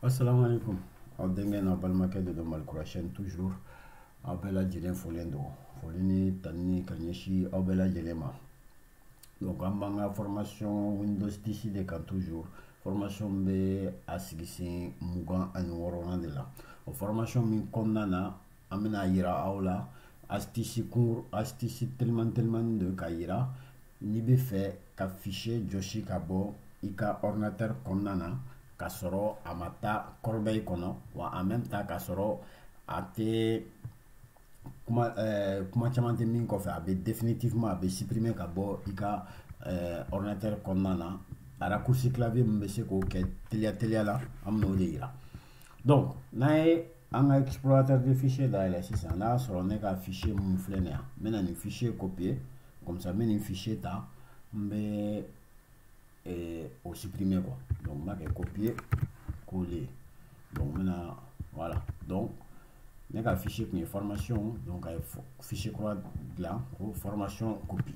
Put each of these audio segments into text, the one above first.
asalaamaaleykum aw denkɛ n'a balimakɛ de don malikura chaîne toujours aw bɛɛ lajɛlen folen don foli ni tanni ka ɲɛsin aw bɛɛ lajɛlen ma donc an b'an ka formation windows 10 de kan toujours formation bɛ a sigi sen mugan ani wɔɔrɔnan de la o formation min kɔnɔna na an bɛna yira aw la astuce cours astuce telimani telimani de ka yira n'i bɛ fɛ ka fichier jɔsi ka bɔ i ka ordinateur kɔnɔna na ka sɔrɔ a ma taa corbeille kɔnɔ wa en même temps ka sɔrɔ a tɛ kuma ɛɛ kuma caman tɛ min kɔfɛ a bɛ définitivement a bɛ supprimer ka bɔ i ka ɛɛ ordinateur kɔnɔna na raccourci clavier min bɛ se k'o kɛ teliya teliya la an bɛn'o de yira donc n'an ye an ka explorateur de fichier dayɛlɛ sisan n'a y'a sɔrɔ ne ka fichier mun filɛ nin yan n bɛna nin fichier copier comme ça n bɛ nin fichier ta n bɛ eh, o supprimer quoi donc n b'a kɛ copier coller donc n bɛna voilà donc ne ka fichier tun ye formation donc a ye fichier kura dilan ko formation copie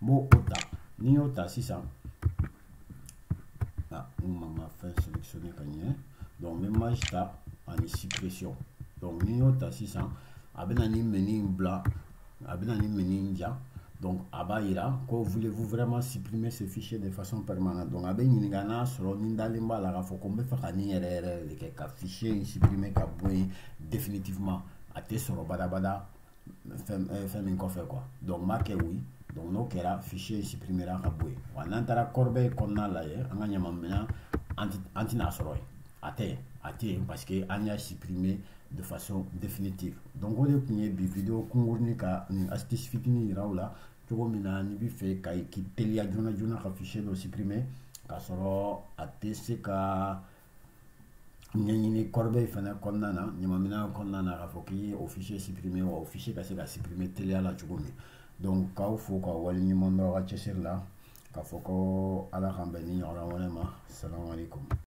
n b'o o ta n'i y'o ta sisan a n ma n ka fɛn sélectionner ka ɲɛ donc n bɛ maj ta ani suppression donc n'i y'o ta sisan a bɛna nin menu in bila a bɛna nin menu in yira donc a b'a yira ko voulez-vous vraiment supprimer ce fichier de façon permanente donc a bɛ ɲininka n'a sɔrɔ ni n dalen b'a la k'a fɔ ko n bɛ fɛ ka nin yɛrɛ yɛrɛ de kɛ ka fichier in supprimer ka bɔ yen définitivement a tɛ sɔrɔ badabada fɛn eh, fɛn min kɔfɛ quoi donc n b'a kɛ oui donc n'o kɛra fichier supprimera ka bɔ yen wa n'an taara corbeille kɔnɔna lajɛ an ka ɲamanminɛn an tɛ an tɛn'a sɔrɔ yen a tɛ yen a tɛ yen parce que an y'a supprimer de façon définitive donc o de tun ye bi video kunkurunin ka nin astuce fitinin yira aw la cogo min na n'i bɛ fɛ ka k'i teliya joona joona ka fichier dɔ supprimer k'a sɔrɔ a tɛ se ka ɲɛɲini corbeille fana kɔnɔna na ɲamanminɛn kɔnɔna na k'a fɔ k'i ye o fichier supprimer wa o fichier ka se ka supprimer teliya la cogo min donc k'aw fo k'aw wale ɲuman dɔn aw ka cɛsiri la k'a fɔ ko ala k'an bɛn nin ɲɔgɔnna wɛrɛ ma asalamu aleykum